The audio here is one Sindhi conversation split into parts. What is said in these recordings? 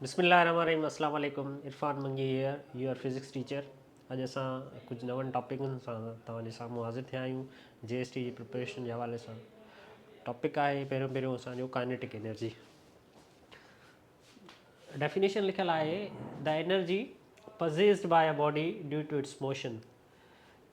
بسم الله الرحمن الرحيم السلام عليڪم Irfan Mangi here your physics teacher اڄ اسان ڪجهه نون ٽاپڪن سان توهان جي سامهون حاضر ٿيا آهيون جي ايس ٽي جي پرپريشن جي حوالي سان ٽاپڪ آهي پهريون پهريون اسان جو ڪائنيٽڪ انرجي ڊيفينيشن لکيل آهي the energy possessed by a body due to its motion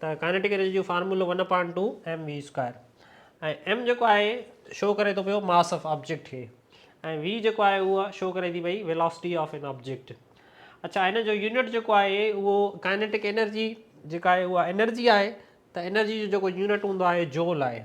ته ڪائنيٽڪ انرجي جو فارمولو one upon two M V square ۽ M جيڪو آهي شو ڪري ٿو پيو ماس آف آبجيڪٽ کي ۽ وي جيڪو آهي اهو شو ڪري ٿي پئي ويلاسٽي آف ان آبجيڪٽ اچھا هن جو يونٽ جيڪو آهي اهو ڪائنيٽڪ انرجي جيڪا آهي اها انرجي آهي ته انرجي جو جيڪو يونٽ هوندو آهي جول آهي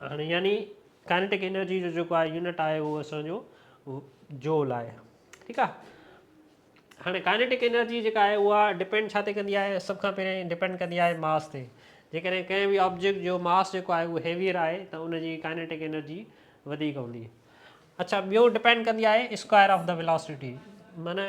هاڻي يعني ڪائنيٽڪ انرجي جو جيڪو آهي يونٽ آهي اهو اسان جو جول آهي ٺيڪ آهي هاڻي ڪائنيٽڪ انرجي جيڪا آهي اها ڊپينڊ ڇا تي ڪندي آهي سڀ کان پهرين ڊپينڊ ڪندي آهي ماس تي جيڪڏهن ڪنهن به آبجيڪٽ جو ماس جيڪو آهي اهو هيويئر آهي ته ان جي ڪائنيٽڪ انرجي وڌيڪ هوندي اڇا ٻيو ڊپينڊ ڪندي آهي اسڪوائر آف دا ويلاسٽي معنی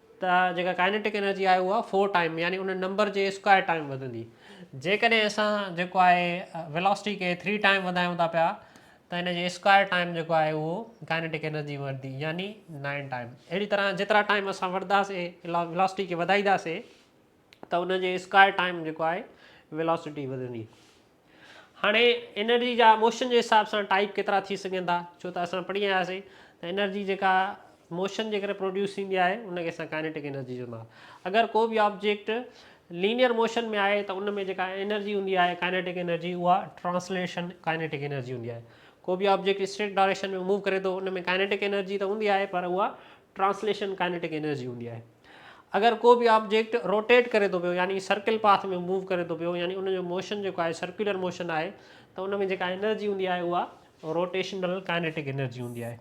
ته جيڪا ڪائنيٽڪ انرجي آهي اها فور ٽائيم يعني ان نمبر جي اسڪوائر ٽائيم وڌندي. جيڪڏهن اسان جيڪو آهي ويلاسٽي کي ٿري ٽائيم وڌايون ٿا پيا ته ان جي اسڪوائر ٽائيم جيڪو آهي اهو ڪائنيٽڪ انرجي وڌندي يعني نائن ٽائيم. اهڙي طرح جيترا ٽائيم اسان وڌنداسين ويلاسٽي کي وڌائينداسين ته ان جي اسڪوائر ٽائيم جيڪو آهي ويلاسٽي وڌندي. هاڻي انرجي جا موشن جي حساب سان ٽائيپ ڪيترا ٿي سگهن ٿا ڇو ته اسان پڙهي آياسين ته انرجي جيڪا موشن جي ڪري پروڊيوس ٿيندي آهي ان کي اسان ڪائنيٽڪ انرجي چوندا اگر ڪو به آبجيڪٽ لينيئر موشن ۾ آهي ته ان ۾ جيڪا انرجي هوندي آهي ڪائنيٽڪ انرجي اها ٽرانسليشن ڪائنيٽڪ انرجي هوندي آهي ڪو به آبجيڪٽ اسٽريٽ ڊائريڪشن ۾ موو ڪري ٿو ان ۾ ڪائنيٽڪ انرجي ته هوندي آهي پر اها ٽرانسليشن ڪائنيٽڪ انرجي هوندي آهي. اگر ڪو به آبجيڪٽ روٽيٽ ڪري ٿو پيو يعني سرڪل پاٿ ۾ موو ڪري ٿو پيو يعني ان جو موشن جيڪو آهي سرڪيولر موشن آهي ته ان ۾ جيڪا انرجي هوندي آهي اها روٽيشنل ڪائنيٽڪ انرجي هوندي آهي.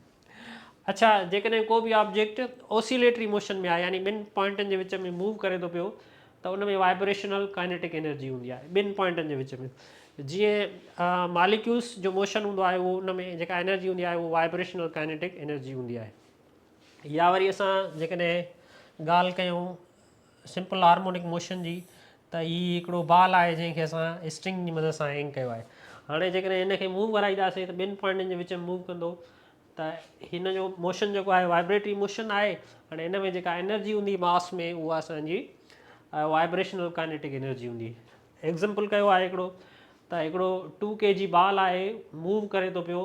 اڇا جيڪڏهن ڪو به آبجيڪٽ اوسيليٽري موشن ۾ آهي يعني ٻن پوائنٽن جي وچ ۾ موو ڪري ٿو پيو ته ان ۾ وائبريشنل ڪائنيٽڪ انرجي هوندي آهي ٻن پوائنٽن جي وچ ۾ جيئن ماليڪيولس جو موشن هوندو آهي اهو ان ۾ جيڪا انرجي هوندي آهي اهو وائبريشنل ڪائنيٽڪ انرجي هوندي آهي. يا وري اسان جيڪڏهن ڳالهه ڪيون سمپل هارمونڪ موشن جي ته هي هڪڙو بال آهي جنهن کي اسان اسٽرنگ جي مدد سان هينگ ڪيو آهي هاڻي جيڪڏهن هن کي موو ڪرائينداسين ته ٻن پوائنٽن جي وچ ۾ موو ڪندو ته هن جو موشن جيڪو آهي وائبريٽري موشن آهي هاڻي هن ۾ جيڪا انرجي هوندي ماس ۾ اها اسان جي وائبريشنل ڪائنيٽڪ انرجي هوندي ايگزامپل ڪيو آهي هڪڙو ته هڪڙو ٽو ڪي جي بال آهي موو ڪري ٿو پيو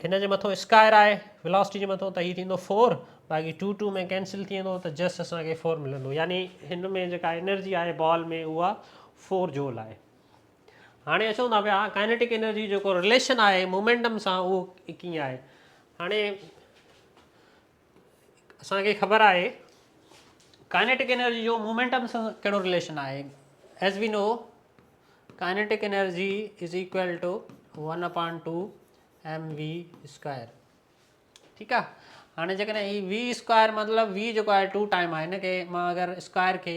هن جي مٿو اسڪائر آهي Velocity جي مٿو ته هي ٿيندو فور باقي ٽو ٽو ۾ ڪينسل ٿي ويندو ته جسٽ اسان کي فور ملندو يعني هن ۾ جيڪا انرجي آهي بال ۾ اها فور جول آهي هاڻي اچون ٿا پيا ڪائنيٽڪ انرجي جيڪو رليشن آهي مومينٽم سان اهو ڪيئن آهي هاڻي اسان کي خبر آهي ڪائنيٽڪ انرجي جو مومينٽم سان ڪهڙو رليشن آهي as we know kinetic energy is equal to one upon two M V square ٺيڪ آ هاڻي جيڪڏهن هي وي اسڪوائر مطلب وي جيڪو آهي ٽو ٽائم آهي هن کي مان اگر اسڪوائر کي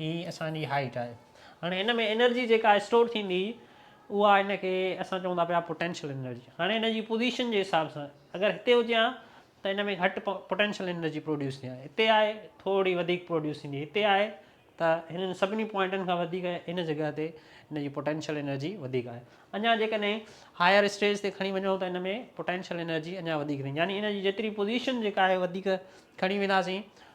هي اسان جي هائيٽ آهي هاڻي هن ۾ انرجي جيڪا اسٽور ٿيندي اها هن کي اسان چئون ٿا پيا پوٽينشل انرجي هاڻي هن جي پوزيشن جي حساب سان اگر هتي هجي ها ته هن ۾ گهٽ پوٽينشل انرجي پروڊيوس ٿي ها هتي آهي ٿورڙي وڌيڪ پروڊيوس ٿيندي هتي آهي ته هنن سڀني پوائنٽن کان وڌيڪ هن جڳهه تي هن جي پوٽينشل انرجي وڌيڪ آهي اڃا جيڪڏهن هائر اسٽيج تي کڻي وڃو ته هن ۾ پوٽينشل انرجي اڃا وڌيڪ ٿيندي يعني هن جي جيتري پوزيشن جيڪا آهي وڌيڪ کڻي وينداسين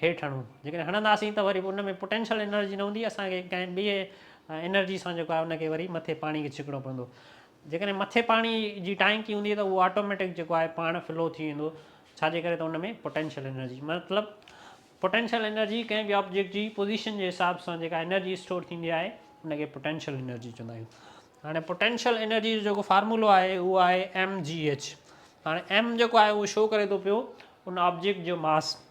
هيٺ هڻون جيڪڏهن هڻنداسين ته وري ان ۾ پوٽينشل انرجي نه هوندي اسان کي ڪنهن ٻئي انرجي سان جيڪو آهي ان کي وري مٿي پاڻي کي ڇڪڻو پوندو جيڪڏهن مٿي پاڻي جي ٽانڪي هوندي ته اهو آٽوميٽڪ جيڪو آهي پاڻ فلو ٿي ويندو ڇا جي ڪري ته ان ۾ پوٽينشل انرجي مطلب پوٽينشل انرجي ڪنهن به آبجيڪٽ جي پوزيشن جي حساب سان جيڪا انرجي اسٽور ٿيندي آهي ان کي پوٽينشل انرجي چوندا آهيون هاڻي پوٽينشل انرجي جو جيڪو فارمولو آهي اهو آهي ايم جي ايچ هاڻي ايم جيڪو آهي اهو شو ڪري ٿو پيو ان آبجيڪٽ جو ماس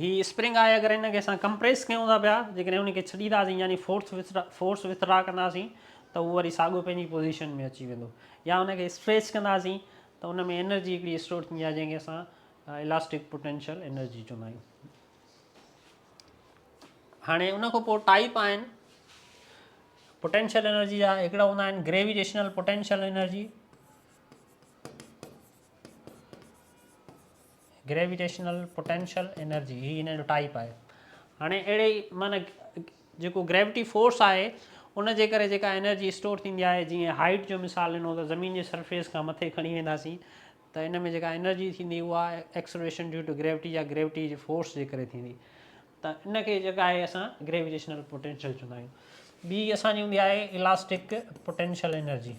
هي اسپرنگ آهي اگر هن کي اسان ڪمپريس ڪيون ٿا پيا جيڪڏهن ان کي ڇڏينداسين يعني فورس فورس وٿرا ڪنداسين ته اهو وري ساڳو پنهنجي پوزيشن ۾ اچي ويندو يا ان کي اسٽريچ ڪنداسين ته ان ۾ انرجي هڪڙي اسٽور ٿيندي آهي جنهن کي اسان الاسٽڪ پوٽينشل انرجي چوندا آهيون هاڻي ان کان پوء ٽائپ آهن پوٽينشل انرجي جا هڪڙا هوندا آهن gravitational potential energy gravitational potential energy هي ان جو ٽائپ آهي هاڻي اهڙي معنی جيڪو گريويٽي فورس آهي ان جي ڪري جيڪا انرجي اسٽور ٿيندي آهي جيئن هائيٽ جو مثال ڏنو ته زمين جي سرفيس کان مٿي کڻي وينداسين ته ان ۾ جيڪا انرجي ٿيندي اها ايڪسلريشن ڊيو ٽو گريويٽي يا گريويٽي جي فورس جي ڪري ٿيندي ته ان کي جيڪا آهي اسان گريويٽيشنل پوٽينشل چوندا آهيون ٻي اسانجي هوندي آهي الاسٽڪ پوٽينشل انرجي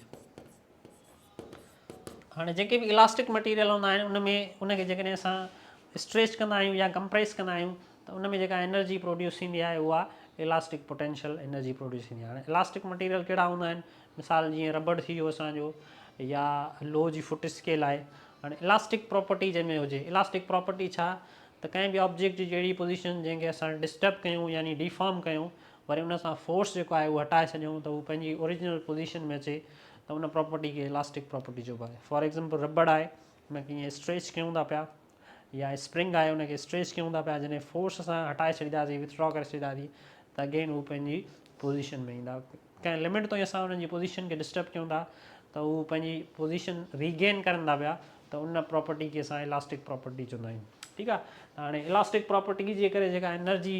هاڻي جيڪي به الاسٽڪ مٽيريل هوندا آهن ان ۾ ان کي جيڪڏهن اسان اسٽريچ ڪندا آهيون يا ڪمپريس ڪندا آهيون ته ان ۾ جيڪا انرجي پروڊيوس ٿيندي آهي اها الاسٽڪ پوٽينشل انرجي پروڊيوس ٿيندي آهي هاڻي الاسٽڪ مٽيريل ڪهڙا هوندا آهن مثال جيئن ربڙ ٿي ويو اسانجو يا لوهه جي فٽ اسڪيل آهي هاڻي الاسٽڪ پراپرٽي جنهن ۾ هجي الاسٽڪ پراپرٽي ڇا ته ڪنهن به آبجيڪٽ جي جهڙي پوزيشن جنهن کي اسان ڊسٽرب ڪيون يعني ڊيفارم ڪيون وري ان سان فورس جيڪو آهي اهو هٽائي ڇڏيون ته هو پنهنجي اوريجنل پوزيشن ۾ اچي ته ان پراپرٽي کي الاسٽڪ پراپرٽي چئبو آهي فار ايگزامپل رٻڙ آهي ان کي ائين اسٽريچ ڪيون ٿا پيا يا اسپرنگ آهي ان کي اسٽريچ ڪيون ٿا پيا جڏهن فورس سان هٽائي ڇڏينداسي وٿڊرا ڪري ڇڏينداسي ته اگين هو پنهنجي پوزيشن ۾ ايندا ڪنهن لمٽ تائين اسان انهن جي پوزيشن کي ڊسٽرب ڪيون ٿا ته هو پنهنجي پوزيشن ريگين ڪرن ٿا پيا ته ان پراپرٽي کي اسان الاسٽڪ پراپرٽي چوندا آهيون ٺيڪ آهي هاڻي الاسٽڪ پراپرٽي جي ڪري جيڪا انرجي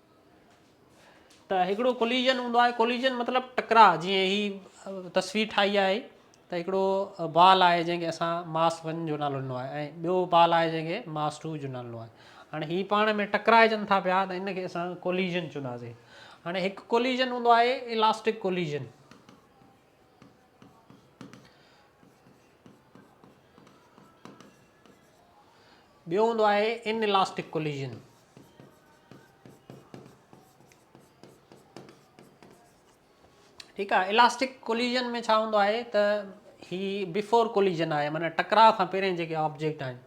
ته هڪڙو ڪوليجن هوندو آهي ڪوليجن مطلب ٽڪراء جيئن هي تصوير ٺاهي آهي ته هڪڙو بال آهي جنهن کي اسان ماس ون جو نالو ڏنو آهي ۽ ٻيو بال آهي جنهن کي ماس ٽو جو نالو ڏنو آهي هاڻي هي پاڻ ۾ ٽڪرائجن ٿا پيا ته ان کي اسان ڪوليجن چونداسي هاڻي هڪ ڪوليجن هوندو آهي الاسٽڪ ڪوليجن ٻيو هوندو آهي ان الاسٽڪ ڪوليجن ٺيڪ آهي الاسٽڪ ڪوليجن ۾ ڇا هوندو آهي ته هي بفور ڪوليجن آهي معنی ٽڪراء کان پهرين جيڪي آبجيڪٽ آهن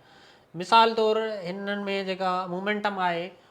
مثال طور هنن ۾ جيڪا مومينٽم آهي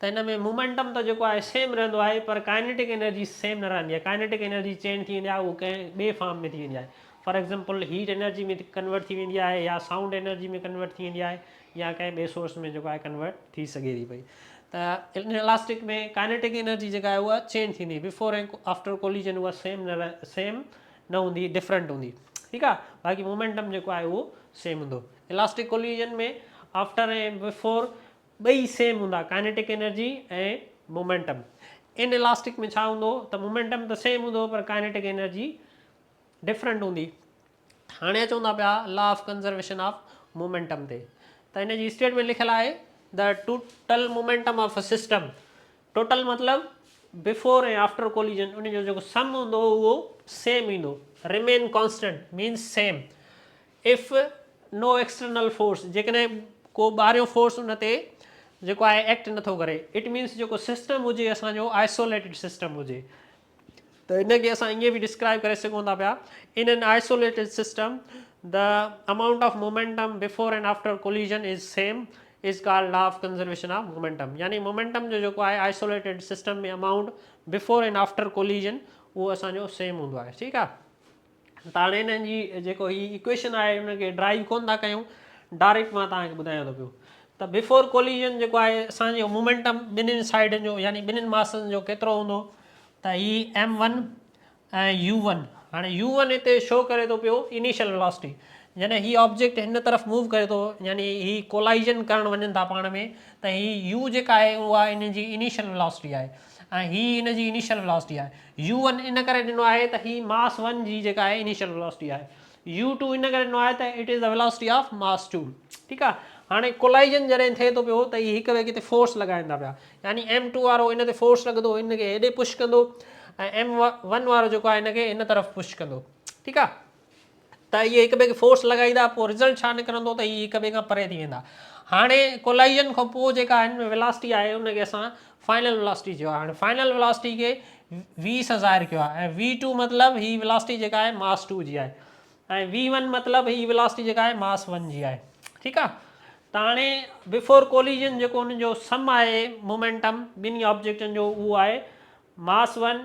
ته ان ۾ مومينٽم ته جيڪو آهي سيم رهندو آهي پر ڪائنيٽڪ انرجي سيم نه رهندي آهي ڪائنيٽڪ انرجي چينج ٿي ويندي آهي اهو ڪنهن ٻي فارم ۾ ٿي ويندي آهي for example heat energy ۾ convert ٿي ويندي آهي يا سائونڊ انرجي ۾ ڪنورٽ ٿي ويندي آهي يا ڪنهن ٻي سورس ۾ جيڪو آهي ڪنورٽ ٿي سگهي ٿي پئي ته ان الاسٽڪ ۾ ڪائنيٽڪ انرجي جيڪا آهي اها چينج ٿيندي بفور ۽ آفٽر ڪوليجن اها سيم نه سيم نه هوندي ڊفرنٽ هوندي ٺيڪ آهي باقي مومينٽم جيڪو آهي اهو سيم هوندو الاسٽڪ ڪوليجن ۾ آفٽر ۽ بفور ٻئي سيم هوندا ڪائنيٽڪ انرجي ۽ مومينٽم ان الاسٽڪ ۾ ڇا هوندو ته مومينٽم ته سيم هوندو پر ڪائنيٽڪ انرجي ڊفرنٽ هوندي هاڻي اچون ٿا پيا law of conservation of momentum تي ته ان جي اسٽيٽمنٽ لکيل آهي the total momentum of a system total مطلب بفور ۽ آفٽر ڪوليجن ان جو جيڪو سم هوندو اهو سيم ايندو remain constant means same if no external force جيڪڏهن ڪو ٻاهريون فورس ان تي جيڪو آهي ايڪٽ نٿو ڪري اٽ مينس جيڪو سسٽم هجي اسان جو آئسوليٽيڊ سسٽم هجي ته ان کي اسان ائين به ڊسڪرائب ڪري سگهون ٿا پيا in an isolated system the amount of momentum before and after collision is same is called law of conservation of momentum يعني مومينٽم جو جيڪو آهي isolated system ۾ amount before and after collision اهو اسان جو سيم هوندو آهي ٺيڪ آهي ته هاڻي هنن جي جيڪو هي ايڪويشن آهي ان کي ڊرائيو ڪونه ٿا ڪيون ڊائريڪٽ مان توهان کي ٻڌايان ٿو پيو ته بفور ڪوليجن جيڪو آهي اسان جو مومينٽم ٻنهين سائيڊن جو يعني ٻنهين ماسن جو ڪيترو هوندو ته هي ايم ون ۽ يو ون هاڻي يو ون هتي شو ڪري ٿو پيو انيشل ويلاسٽي جڏهن هي آبجيڪٽ هن طرف موو ڪري ٿو يعني هي ڪولائيجن ڪرڻ وڃن ٿا پاڻ ۾ ته هي يو جيڪا آهي اها هن جي انيشل ويلاسٽي آهي ۽ هي ان جي انيشل ويلاسٽي آهي. يو ون ان ڪري ڏنو آهي ته هي ماس ون جي جيڪا آهي انيشل ويلاسٽي آهي. يو ٽو ان ڪري ڏنو آهي ته it is the velocity of mass two. ٺيڪ آهي. هاڻي ڪولائيزن جڏهن ٿئي ٿو پيو ته هي هڪ ٻئي کي تي فورس لڳائين ٿا پيا. يعني ايم ٽو وارو هن تي فورس لڳندو هن کي هيڏي پش ڪندو ۽ ايم ون وارو جيڪو آهي هن کي هن طرف پش ڪندو. ٺيڪ آهي. ته اهي هڪ ٻئي کي فورس لڳائيندا پوء رزلٽ ڇا نڪرندو ته اهي هڪ ٻئي کان پري ٿي ويندا هاڻي ڪولائيزن کان پوء جيڪا هن ۾ ولاسٽي آهي ان کي اسان فائنل ولاسٽي چيو آهي هاڻي فائنل ولاسٽي کي وي سان ظاهر ڪيو آهي ۽ وي ٽو مطلب هي ولاسٽي جيڪا آهي ماس ٽو جي آهي ۽ وي ون مطلب هي ولاسٽي جيڪا آهي ماس ون جي آهي ٺيڪ آهي ته هاڻي بفور ڪوليجن جيڪو ان جو سم آهي مومينٽم ٻنهي آبجيڪٽن جو اهو آهي ماس ون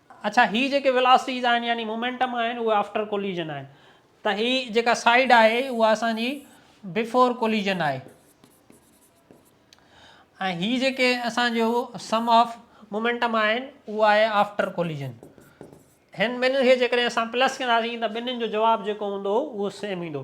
اڇا هي جيڪي ويلاسٽيز آهن يعني مومينٽم آهن اهي آفٽر ڪوليزن آهن ته هي جيڪا سائيڊ آهي اها اسان جي بفور ڪوليزن آهي ۽ هي جيڪي اسان جو سم آف مومينٽم آهن اهو آهي آفٽر ڪوليزن هن ٻنهي کي جيڪڏهن اسان پلس ڪنداسين ته ٻنهين جو جواب جيڪو هوندو اهو سيم ايندو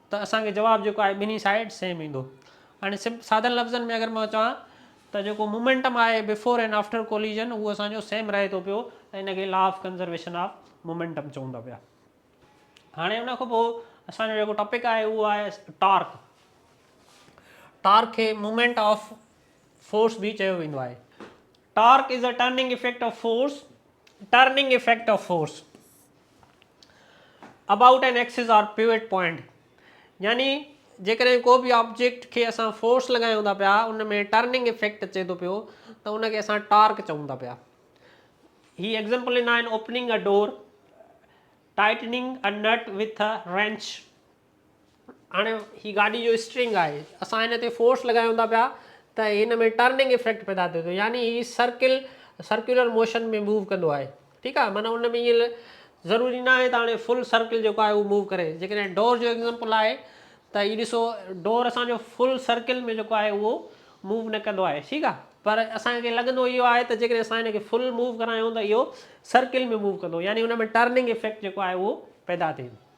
ته اسان کي جواب جيڪو آهي ٻنهي سائيڊ سيم ايندو يعني سمپ سادن لفظن ۾ اگر مان چوان ته جيڪو مومينٽم آهي بفور اينڊ آفٽر ڪوليزن اهو اسان جو سيم رهي ٿو پيو ۽ ان کي law of conservation of momentum چئون ٿا پيا هاڻي ان کان پوء اسان جو جيڪو ٽاپڪ آهي اهو آهي ٽارڪ ٽارڪ کي مومينٽ آف فورس به چيو ويندو آهي Torque is the turning effect of force Turning effect of force about an axis or pivot point يعني جيڪڏهن ڪو به آبجيڪٽ کي اسان فورس لڳايون ٿا پيا ان ۾ ٽرننگ افيڪٽ اچي ٿو پيو ته ان کي اسان ٽارڪ چئون ٿا پيا هي ايگزامپل ان آهن opening a door tightening a nut with a wrench هاڻي هي گاڏي جو اسٽرنگ آهي اسان هن تي فورس لڳايون ٿا پيا ته هن ۾ ٽرننگ افيڪٽ پيدا ٿئي ٿو يعني هي سرڪل سرڪيولر موشن ۾ موو ڪندو آهي ٺيڪ آهي معنيٰ ان ۾ ائين ضروري نه آهي ته هاڻي فل سرڪل جيڪو آهي اهو موو ڪري جيڪڏهن ڊور جو ايگزامپل آهي ته هي ڏسو ڊور اسانجو فل سرڪل ۾ جيڪو آهي اهو موو نه ڪندو آهي ٺيڪ آهي پر اسانکي لڳندو اهو آهي ته جيڪڏهن اسان هن کي فل موو ڪرايون ته اهو سرڪل ۾ موو ڪندو يعني ان ۾ ٽرننگ افيڪٽ جيڪو آهي اهو پيدا ٿئي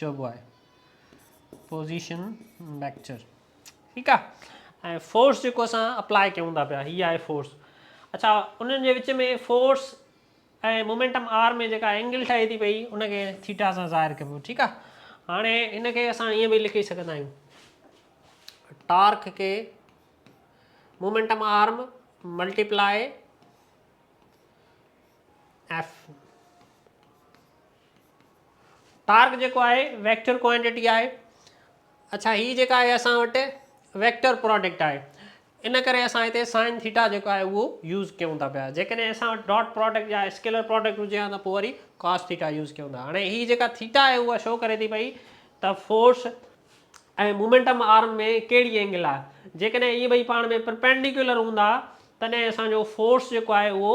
چئبو آهي پوزيشن ويڪٽر ٺيڪ آ ۽ فورس جيڪو اسان اپلائي ڪيون ٿا پيا هي آهي فورس اچھا انهن جي وچ ۾ فورس ۽ مومينٽم آر ۾ جيڪا اينگل ٺهي ٿي پئي ان کي ٿيٽا سان ظاهر ڪبو ٺيڪ آ هاڻي ان کي اسان ائين به لکي سگهندا آهيون ٽارڪ کي moment arm multiply F torque جيڪو آهي ويڪٽر ڪوانٽيٽي آهي اڇا هي جيڪا آهي اسان وٽ ويڪٽر پراڊڪٽ آهي ان ڪري اسان هتي سائن ٿيٽا جيڪو آهي اهو يوز ڪيون ٿا پيا جيڪڏهن اسان وٽ ڊاٽ پراڊڪٽ يا اسڪيلر پراڊڪٽ هجي ها ته پوء وري ڪاس ٿيٽا يوز ڪيون ٿا هاڻي هي جيڪا ٿيٽا آهي اها شو ڪري ٿي پئي ته فورس ۽ مومينٽم آرم ۾ ڪهڙي اينگل آهي جيڪڏهن اهي ٻئي پاڻ ۾ پرپينڊيڪولر هوندا تڏهن اسانجو فورس جيڪو آهي اهو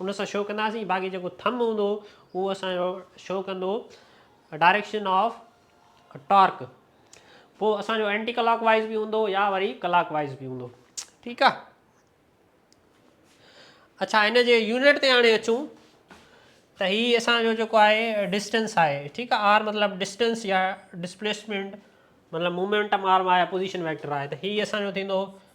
ان سان شو ڪنداسين باقي جيڪو ٿم هوندو اهو اسان جو شو ڪندو ڊائريڪشن آف ٽارڪ پوء اسان جو اينٽي ڪلاڪ وائز به هوندو يا وري ڪلاڪ وائز به هوندو ٺيڪ آ اچھا ان جي يونٽ تي هاڻي اچون ته هي اسان جو جيڪو آهي ڊسٽنس آهي ٺيڪ آ آر مطلب ڊسٽنس يا ڊسپليسمنٽ مطلب مومينٽم آرم آهي پوزيشن ويڪٽر آهي ته هي اسان جو ٿيندو